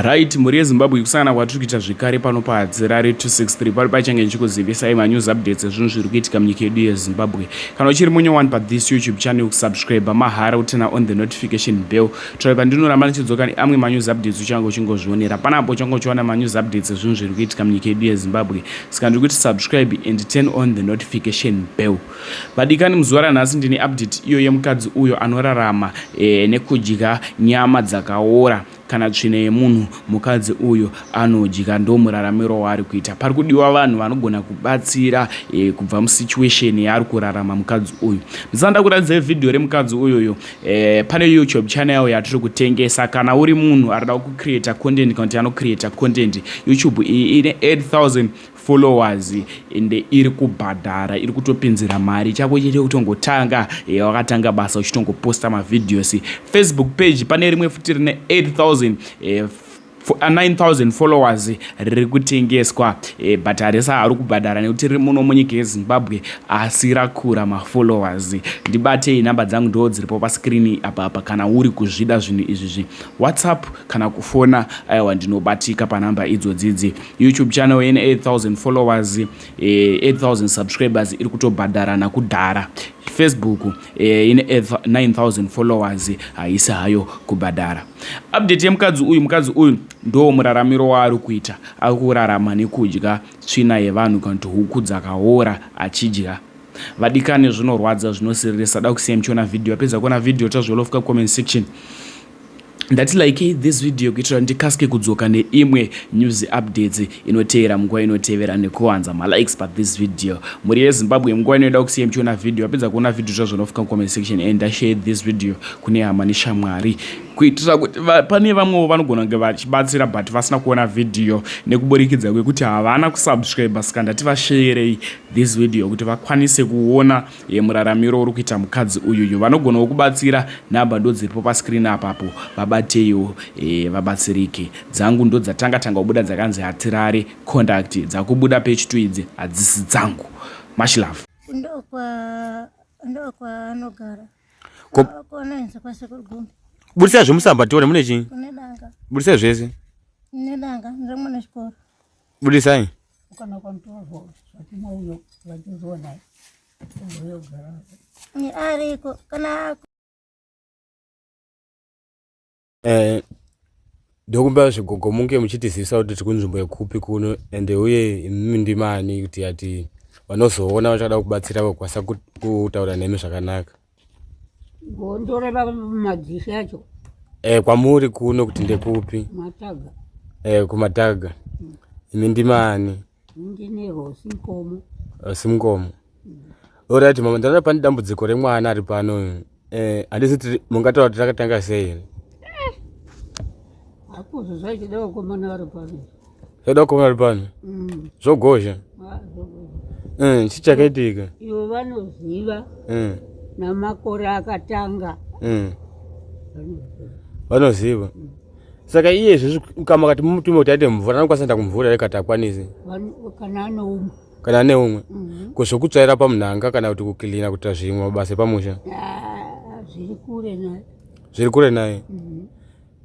Right, mhuri yeZimbabwe kusangana kwatiri kuita zvekare pano paHadzirare 263 pari pachange ndichikuzivisai manews updates ezvinhu zviri kuitika munyika yedu yeZimbabwe. Kana uchiri munye one pa this YouTube channel kusubscribe mahara utena on the notification bell. Try pandinoramba ndichidzoka neamwe manews updates uchange uchingozvionera. Panapo uchange uchiwana manews updates ezvinhu zviri kuitika munyika yedu yeZimbabwe. Saka ndiri kuti subscribe and turn on the notification bell. Vadikani muzuva ranhasi ndine update iyo yemukadzi uyo anorarama e, nekudya nyama dzakaora kana tsvina yemunhu mukadzi uyo anodya ndomuraramiro waari kuita pari kudiwa vanhu vanogona kubatsira e, kubva musituation yaari kurarama mukadzi uyu ndisanda kuratidza vhidhiyo remukadzi uyuyo e, eh, pane youtube channel yatiri kutengesa kana uri munhu arida kucreata content kana kuti anocreata content youtube iyi ine 8000 followers ende iri kubhadhara iri kutopinzira mari chako chete kutongotanga eh, wakatanga basa uchitongoposta mavideos facebook page pane rimwe futi rine 8000 eh, 9000 followers riri kutengeswa eh, but harisa hari kubhadhara nekuti riri muno munyika yezimbabwe asi rakura mafollowers ndibatei nhamba dzangu ndoo dziripo paskrini apa apa kana uri kuzvida zvinhu izvizvi whatsapp kana kufona aiwa ndinobatika panhamba idzodzidzi YouTube channel ine 8000 followers eh, 8000 subscribers iri kutobhadharana kudhara Facebook eh, ine 9000 followers haisi hayo kubhadhara update yemukadzi uyu mukadzi uyu ndo muraramiro waari kuita ari kurarama nekudya tsvina yevanhu kana kuti huku dzakaora achidya vadikani zvinorwadza zvinosiririsa da kusiya muchiona vhidhiyo apedza kuona vhidhiyo tazviolofka comment section ndati likei this video kuitira kuti ndikasike kudzoka neimwe news updates inoteera munguva inotevera nekuwanza malikes pa this video mhuri yezimbabwe munguva inoida kusiya muchiona video apedza kuona video zvazvo nofika mucomment section and ndashare this video kune hama neshamwari kuitira kuti pane vamwewo vanogona kunge vachibatsira but vasina kuona video nekuburikidza kwekuti havana kusubscribe saka ndati vasheerei this video kuti vakwanise kuona Ye muraramiro uri kuita mukadzi uyuyu vanogonawo kubatsira number ndodziripo pa screen apapo vabateiwo eh, vabatsirike dzangu ndodzatanga tanga kubuda dzakanzi hatirare conduct dzakubuda page 2 idzi hadzisi dzangu much love ndokwa ndokwa anogara Ko- Kwa- kona inze kwa sekuru gombe budisai zvemusamba tione mune chii kune danga budisai zvese kune danga ndiri mune chikoro Budisai. Ukana kwa mtoto lakini huyo lakini zona. Ndio gara. Ni ariko kana Eh ndokumbira zvigogo munge muchitizivisa kuti tiri kunzvimbo yekupi kuno ende uye imimi ndimani kuti ati vanozoona vachada kubatsira vakwanisa kutaura nemi zvakanaka. Gondoreva madzishe acho. Eh kwamuri kuno kuti ndekupi? Mataga. Eh kumataga. Mm. Imi ndimani? Ndine Rosi Mkomo. Rosi Mkomo. Mm. Alright mama ndana pane dambudziko remwana ari pano. Eh handisi mungataura kuti takatanga sei? Eh. Hakuzo zvachidawo komana ari pano. Zvoda kuva ari pano. Mm. Zvogozha. Ah, eh, chii chakaitika? Ivo vanoziva eh. namakore akatanga. Eh. Vanoziva. Mm. Saka iye izvezvi ukama kati mumutume kuti aite mvura anokwanisa kuenda kumvura here kati akwanisi? Kana ane umwe. Kana ane umwe. Mm-hmm. Ko zvokutsvaira pamunhanga kana kuti kukilina kuita zvimwe mabasa epamusha? Ah, zviri kure naye. Zviri kure naye. Mm-hmm.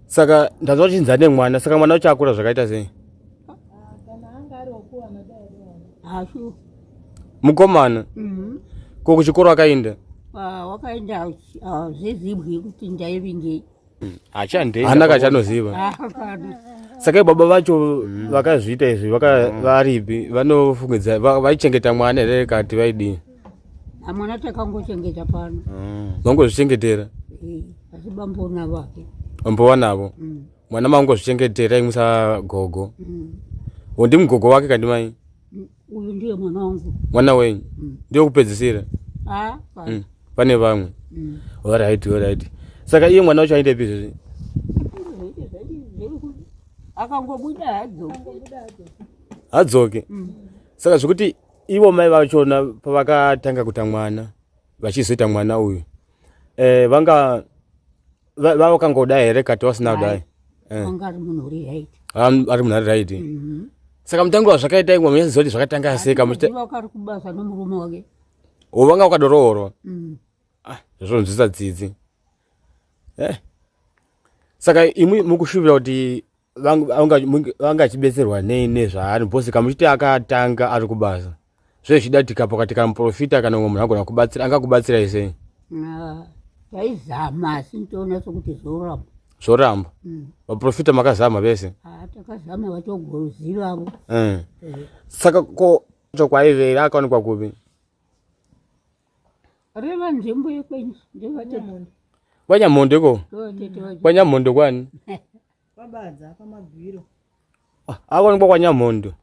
saka ndanzwa uchinzi ane mwana saka mwana ucho akura zvakaita sei mukomana mhm. ko kuchikoro akaenda ah, wakaenda hazvizibwi ah, kuti ndaivingei mm, hachandeihana kachanoziva ah, saka baba vacho mm. vakazviita izvi mm. varipi vanofungidzaa vaichengeta mwana here kati vaidii amwana takangochengeta pano mm. mangozvichengetera eh, asi bambo navake bambo wanavo mm. mwana mangozvichengetera imusa gogo mm. undi mugogo wake kandi mai uyu ndiye mwana wangu mwana wenyu ndiye kupedzisira ah, pane vamwe orit orit saka iye mwana wacho aite pizvezvi akangobuda hadzoke hadzoke saka zvekuti ivo mai vachona pavakatanga kuta mwana vachizoita mwana uyu eh, vanga vavakangoda here kati vasina kudai eh. ari munhu ari right mhm. saka mutangi wazvakaita imwe munyazviziva kuti zvakatanga sei ovanga ukadoroorwa mm. ah, zvazvonzwisa dzidzi eh. saka imwi mukushuvira kuti vanga achibetserwa nei nezvaari bcause kamuchiti akatanga ari kubasa zve zvida tikapo kati kana muprofita kana umwe munhu agona kubatsira angakubatsirai sei taizama asi ntoona sokuti zvoramba zvoramba mm. vaprofita makazama vese ah, takazama vatogozivavo eh. eh. saka ko chokwaivera akaonekwa kupi reva nzvimbo yekwenyu ndevanyamhondo ko kwanyamhondo kwani Kwabadza apa magwiro. Ah, Akwanikwa kwa Nyamhondo.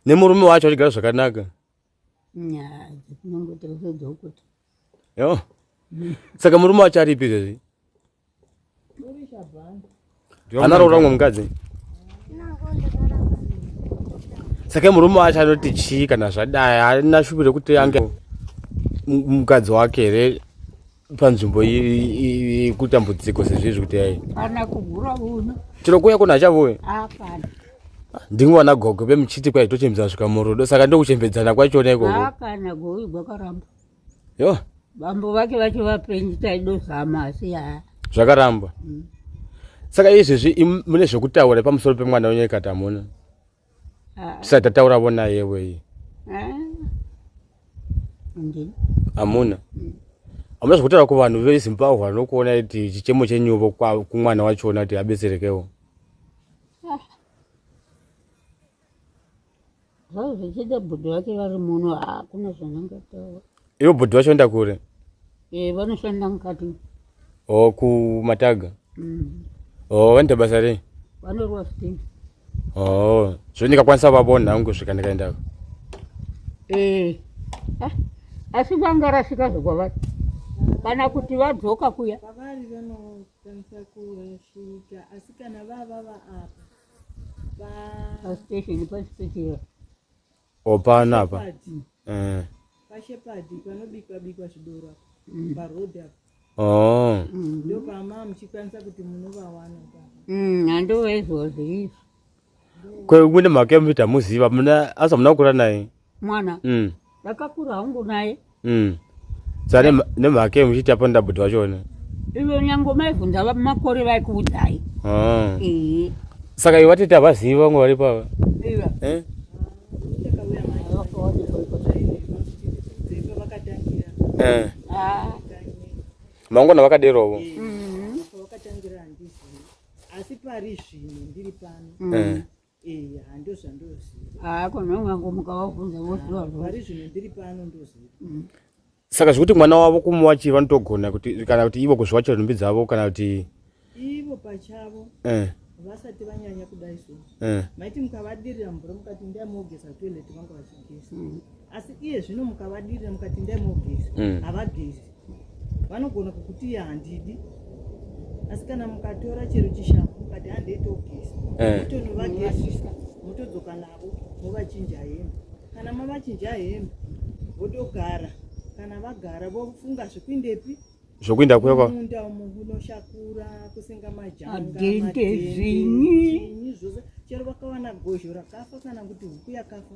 Nemurume wacho achigara zvakanaka. Nyaa, kunongoti rusodzo ukuti. Yo. Saka murume wacho aripi izvezvi? Anaroora umwe mukadzi. Saka murume wacho anoti chii kana zvadai, haana shuviro kuti ange mukadzi wake here? panzvimbo yekutambudziko sezvizvi kuti yai kana kugura uno tinokuya kuna achavoya hapana ndingwana gogo vemuchiti kwai tochembedza svika murudo saka ndokuchembedzana kwachona ikoko hapana gogo gwakaramba yo bambo vake vacho vapenyu taidozama asi haa zvakaramba mm. saka izvezvi mune zvekutaura pamusoro pemwana wenyu ikati hamuna ah. tisati tatauravo naye weye ah. hamuna mm. hamuna zvekutaura kuvanhu vezimbabwe vanokuona kuti chichemo chenyuvo kumwana wachona kuti abetserekewo ah. zvazvo zvichida bhudu vake vari muno hakuna zvanangataura Ivo bhodhi vashanda kure? Eh, vanoshanda mukati. Oh, kumataga? Mm. Oh, vanoita basa rei? Vanorwa sitini. Oh, zvino ndikakwanisa vavona hangu kusvika ndikaendako. Eh. Ah, asi vanga rasvika zvokwavari. Kana kuti vadzoka kuya. Vavari vanokwanisa kurashika asi kana vava vaapa. Pa station pa station. o pano apa eh. pashepadi panobikwa bikwa zvidoro mm. paroad apa oh. mm. ndopama muchikwanisa kuti munovawana mm, handova izvozvo izvi kune mhaka yemuita muziva muna asa muna kukura naye mwana ndakakura hangu naye mm. sa nemhaka ye muchiti apo ndabhuti vachona ivo nyange maivhunza makore vaikuudzai ah. saka ivo vatiti havazivi vamwe vari pava eh? eh. ah. mangona vakaderovo mm-hmm. asi pari zvino ndiri pano mm. eh. eya ndozvandoziva haa kona ungangomuka wavhunza voziva zvori zvino ndiri pano ndoziva mm. saka zvekuti mwana wavo kumuwachi vanotogona kuti kana kuti ivo kuzviwachira nhumbi dzavo kana kuti ivo pachavo eh. vasati vanyanya kudai so eh. maiti mukavadirira mvura mukati ndai mogeza toilet vanga vachigeza mm. asi iye zvino mukavadirira mukati ndai mogeza mm. havagezi vanogona kukuti iye handidi asi kana mukatora chero chishambo mukati handeitogeza eh. mutonovagezisa motodzoka navo movachinja hembe kana mavachinja hembe vodogara kana vagara vofunga zvekuindepi zvokuinda kweva munda umu kunoshakura kusenga majangaadende zvinyi zvose chero vakawana gozho rakafa kana kuti huku yakafa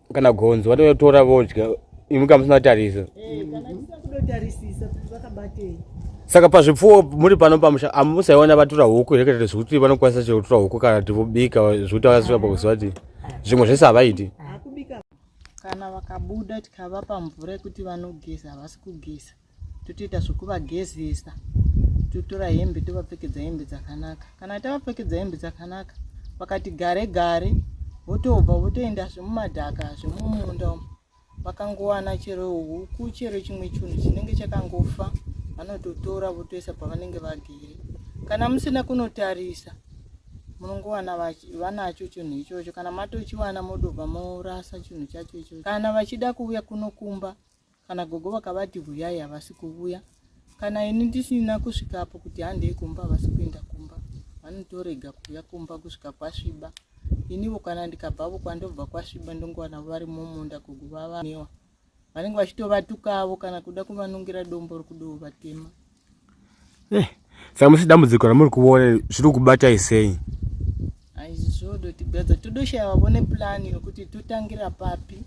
kana gonzo vatotora vodya imwe kamusina tarisa eh, saka pazvipfuwo muri pano pamusha amusaiona vatura huku here kataita zvekuti vanokwanisa chero kutura huku kana kuti vobika zvekuti vakasvika pakuziva kuti zvimwe zvese havaiti kana vakabuda tikavapa mvura yekuti vanogeza havasi kugeza totoita zvekuvagezesa totora hembe tovapfekedza hembe dzakanaka kana tavapfekedza hembe dzakanaka vakati gare gare votobva votoenda zvemumadhaka zvemumunda umu vakangowana chero huku chero chimwe chinhu chinenge chakangofa vanototora votoisa pavanenge vagere kana musina kunotarisa munongowana vanacho chinhu ichocho kana matochiwana modobva morasa chinhu chacho ichocho kana vachida kuuya kunokumba kana gogo vakavati huyai havasi kuvuya kana ini ndisina kusvikapo kuti handei kumba havasi kuenda kumba vanotorega kuuya kumba kusvika kwasviba inivo kana ndikabvavo kwandobva kwasviba ndongowana vari mumunda gogo vavanewa vanenge vachitovatukaavo kana kuda kuvanongera dombo rokudovo vatema Eh, saka musi dambudziko ramuri kuona zviri kubatai sei? Aizvozvodotigadza todoshaya vavone plan yokuti totangira papi.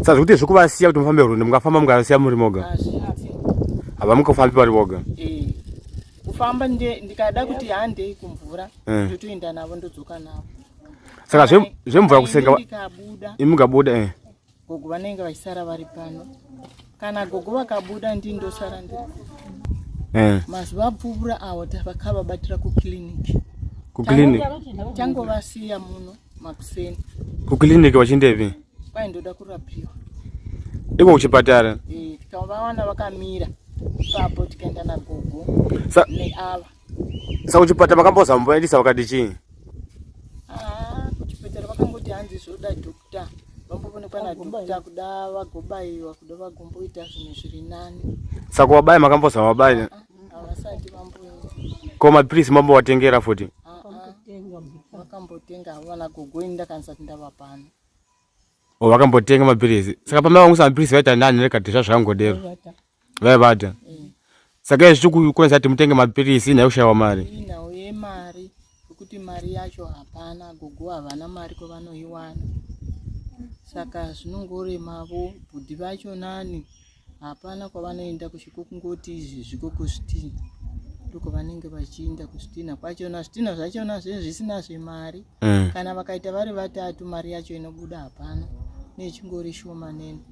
Saka zvekuti zvekuvasiya kuti mufambe rwendo mukafamba mukasiya muri moga? Hazviti. Havamukafambi vari voga? Eh. Kufamba ndikada kuti handei kumvura eh. ndotoenda navo ndodzoka navo. Saka zvemvura kusenga imi mukabuda eh. Gogo vanenge vachisara vari pano. Kana gogo vakabuda ndini ndosara ndiri. Eh. Mazuva apfuura awo tavakavabatira kukiliniki. Kukiliniki. Tangovasiya muno makuseni. Kukiliniki vachindepi? Kwai ndoda kurapiwa. Iko kuchipatara? Eh, tikavawana vakamira. Ipapo tikaenda nagogo. Sa neava. Saka kuchipatara makamboza mumboendesa vakati chii? Ah, kuchipatara vakangoti hanzi zvoda doctor. Vambovonekwa na doctor kuda vagobaiwa kuda vagomboita zvinhu zviri nani. Saka wabaya makamboza wabaya? Ah, ah, havasati vamboenda. Ko mapiritsi mambowatengera futi? Vakambotenga havana gogo ini ndakanisa kuti ndavapana. Oh, vakambotenga mapiritsi. Saka pamai vangu sa mapiritsi vaita nani rekati zvazvangodero. vaibata mm. saka izvi zvikukonzera kuti mutenge mapiritsi nhai kushayiwa mari nhau yemari yekuti mari yacho hapana gogo havana mari kwavanoiwana saka zvinongoremavo bhudhi vacho nani hapana kwavanoenda kusviko kungoti izvi zviko kusvitina ndiko vanenge vachiinda kusvitina kwachona zvitina zvachona zve zvisina zvemari mm. kana vakaita vari vatatu mari yacho inobuda hapana nechingori shoma nene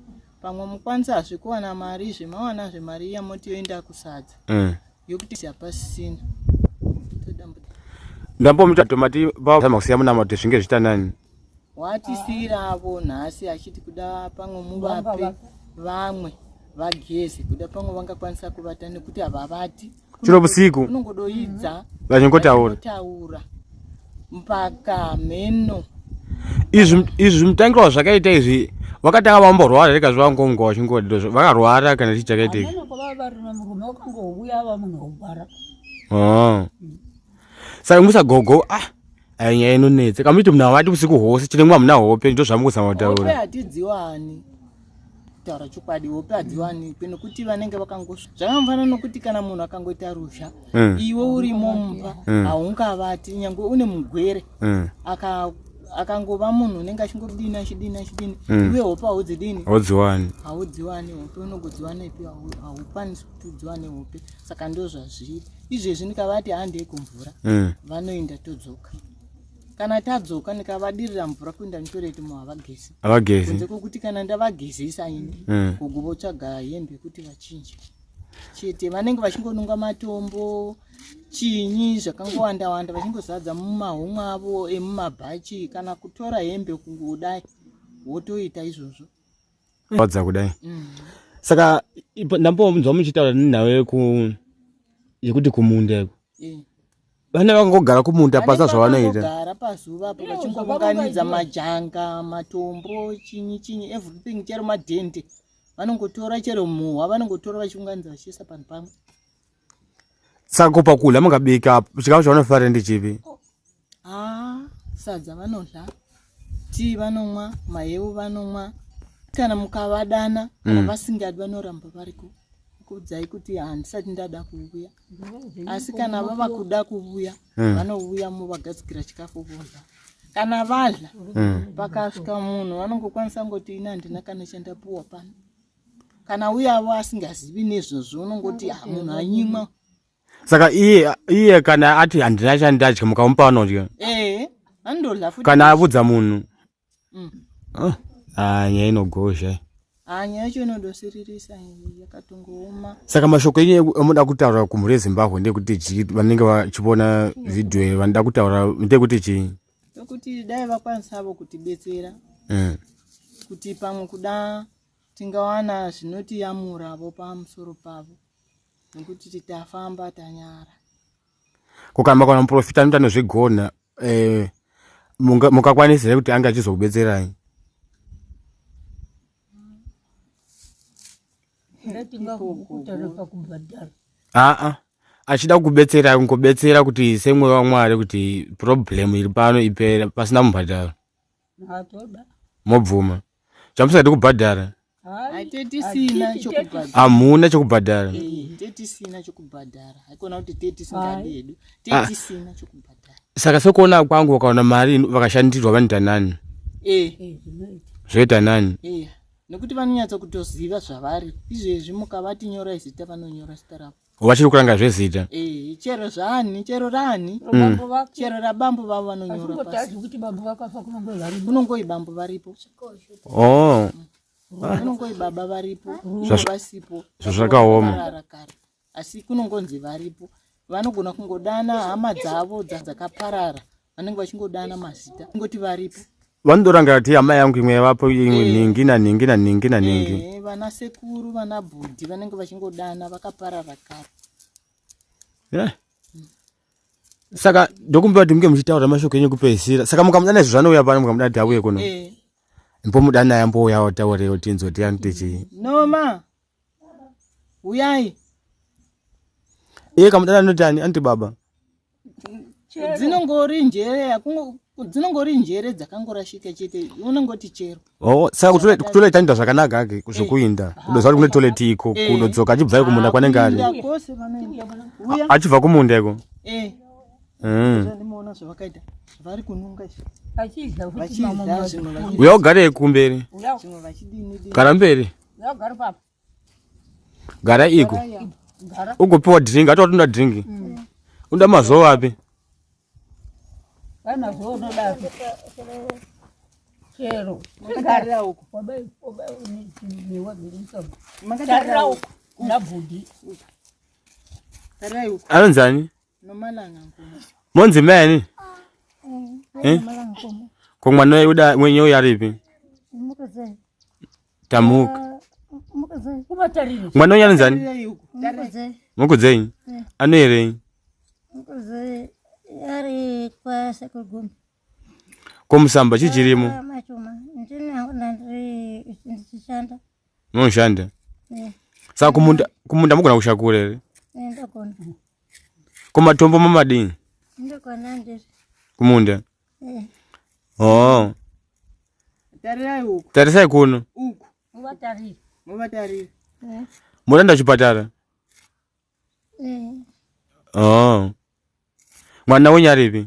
pamwe mukwanisa hazvikuwana mari izvi mawana zvemari iya moti yoenda kusadza mm. yokuti siapasisina ndambomuta tomati vazama kusiya munama kuti zvinge zvitanani watisiyiravo nhasi achiti kuda pamwe muvape vamwe vageze kuda pamwe vangakwanisa kuvata nekuti havavati chero vusiku unongodoidza vachingotaura mpaka mheno izvi izvi zvimutangiro wazvakaita izvi vakatanga vamborwara rega zvavangonga vachingodiro vakarwara kana chii chakaita izvi ah. saka musagogo ah ainyaya eh, inonetse kamuiti muna vati usiku hwose chine mwa muna hope ndo zvamukuzama kutaura taura chokwadi hope hadziwanikwe nokuti vanenge vakangosva zvakamufana nokuti kana munhu akangoita ruzha mm. iwe uri mumba mm. haungavati mm. nyange une mugwere mm. aka akangova munhu unenge achingobdini achidini achidini mm. iwe hope haudzidini haudziwani haudziwani hope unongodziwana ipi haukwanisi kuti udziwane hope saka ndo zvazviri izvezvi ndikavati handei kumvura mm. vanoenda todzoka kana tadzoka ndikavadirira mvura kuenda nitoreiti muhavagezi havagezi kunze kwokuti kana ndavagezesa ini mm. gogo votsvaga hembe yekuti vachinje chete vanenge vachingonunga matombo chinyi zvakangowanda wanda vachingozadza mumahomwe avo emumabhachi kana kutora hembe kungodai wotoita izvozvo wadza kudai mm. saka ndambonzwa muchitaura nenhau yeku yekuti kumunda iko eh. vane vakangogara kumunda pasa zvavanoita gara pazuva apo vachingounganidza majanga matombo chinyi chinyi everything chero madhende vanongotora chero muhwa vanongotora vachiunganidza vachiisa panhu pamwe saka ko pakudya mukabika chikafu chavanofarira ndechipi ah, sadza vanodya tii vanomwa mahewu vanomwa kana mukavadana kana mm. vasingadi vanoramba variko kuudzai kuti handisati ndada kuuya asi kana vava kuda kuvuya hmm. vanovuya movagadzikira chikafu vondla kana vadla hmm. pakasvika munhu vanongokwanisa ngoti ini handina kana chandapuwa pano kana uyavo asingazivi nezvozvo unongoti ha ah, munhu anyimwa saka iye iye kana ati handina chandadya mukamupa vanodya eh, kana avudza munhu mm. oh, ah, nyaya inogozha ah, nyaya yacho inodosiririsa yakatongooma saka mashoko enyu amoda kutaura kumhuri yezimbabwe ndekuti chii vanenge vachivona vhidhiyo iyo vanoda kutaura ndekuti chii tokuti dai vakwanisavo kutibetsera mm. kuti pamwe kuda tingawana zvinotiyamuravo pamusoro pavo nekuti titafamba tanyara kukamba kana muprofita anoita nezvegona eh, mungakwanisa here kuti ange achizokubetserai aa achida kukubetsera kungobetsera kuti semweya wamwari kuti problem iri pano ipere pasina mubhadharo mobvuma chamusati kubhadhara tetisina chokubhadhara hamuna chokubhadhara tetisina chokubhadhara haikona kuti tetisingadi hedu tetisina chokubhadhara saka sekuona kwangu vakaona mari vakashandirwa vanoita nani zvoita nani nekuti vanonyatsa kutoziva zvavari izvezvi mukavati nyorai zita vanonyora zita ravo vachiri kuranga zvezita eh, chero zvani chero rani mm. chero rabambo vavo vanonyora pasi unongoi bambo varipo oh. unongoi baba varipo vasipo zvazvakaoma asi kunongonzi varipo vanogona kungodana hama dzavo dzakaparara vanenge vachingodana mazita kungoti varipo vanodoranga kuti amai yangu imwe yavapo imwe eh. nhingi nanhingi nanhingi nanhingi eh, vana sekuru vana bhudhi vanenge vachingodana vakaparara kare eh. saka ndokumbira kuti munge muchitaura mashoko enyu kupedzisira saka mukamudana izvo zvanouya pano mukamudana kuti auye kuno mbomudana yambouya wataureo tinzwa tiani tichii noma uyai iye kamudana anoti ani anti baba dzinongori njere dzinongori njere dzakangorashika chete unongoti chero oh, saka kutoita nda zvakanaka ake zvekuinda eh. kudoziva kuti kune toleti iko eh. kudodzoka achibva kumunda kwanenge ari achibva kumunda iko eh. hmm. uya ugarei kumberi kana mberi gara iko ugopiwa drink ati watunda drink mm. unoda mazowa api chero anonzani monzi mani eh? ko mwana weuda mwenye uyo aripi tamuka mwana uyo anonzani mukudzenyi eh. anoerenyi ko musamba chii chirimo munoshanda eh. saka kumunda mugona kushakura here kumatombo mamadini kumunda eh. oh. tarisai kuno murenda chipatara eh. oh. mwana wenyu aripi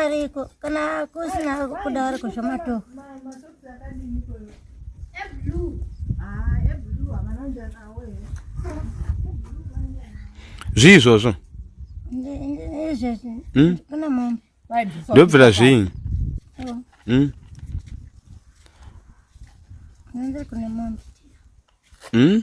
ariko kana kusina kuda ari kuzvamato zvii izvozvo hmm? ndobvira zvii hmm? hmm?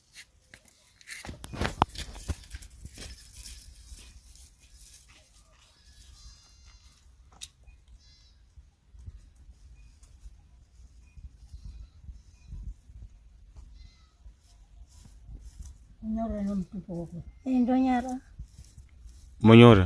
Nyora no mtupo wako. Eh, ndo nyara. Monyora.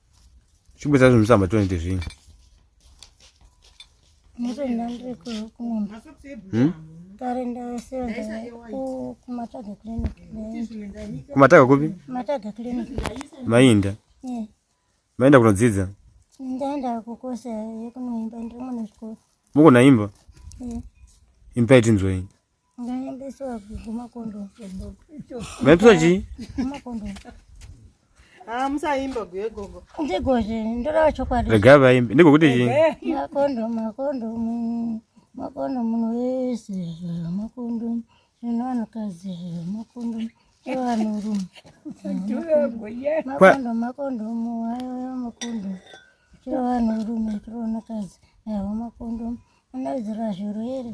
Chikumbisa zvinhu samba tonete zvinhu. Ndirenda ndiri kumunda. Hmm? Ndarenda sevenza kumataga clinic. Kumataga kupi? Kumataga clinic. Mainda. Yeah. Mainda kunodzidza? Ndaenda kukosa yekunoimba ndiri mwana wechikoro. Mukunaimba? Yeah. Imba itinzwei? Vaipisa chii? Ah, musaimba guye gogo. Ndigozve ndorava chokwadi. Rega vaimbe. Ndiko kuti chii? Makondomu, makondomu. Makondomu wese makondomu. Zvino vanhukadzi makondomu. Evanhurume. Makondomu, makondomu. Ayo makondomu. Chiro vanhurume, chiro vanhukadzi. Ayo makondomu. Unodzira zviro here?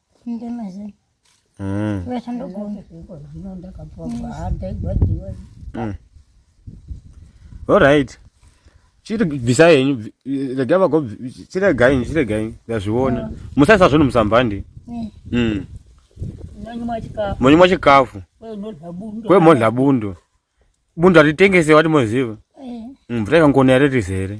Alright. Chiri bvisa henyu rega vago chiregai chiregai ndazviona ah. musaisa zvinhu musambandi eh. mm. monyumwa chikafu kwemodla bundo bundo hatitengese wati moziva eh. mm, mvura ikangona yare rizere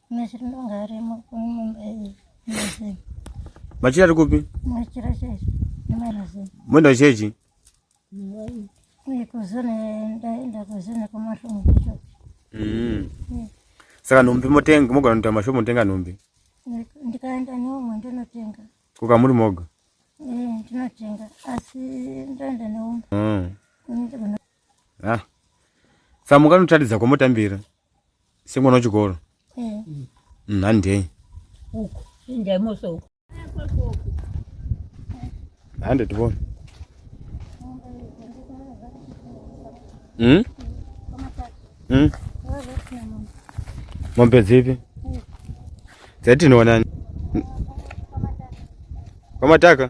Machira ari kupi? Moenda kuchechi? Mm. Saka nhumbi motenga mogona kuita mashopu motenga nhumbi? Ndikaenda neumwe ndinotenga. Kuka muri moga? Eh, ndinotenga asi ndoenda neumwe. Mm. Ah. Samuka unotaridza kwamotambira. semwana wechikoro nhandei hande tivone hmm? hmm? mombe dzipi dzatinoonani kwamataka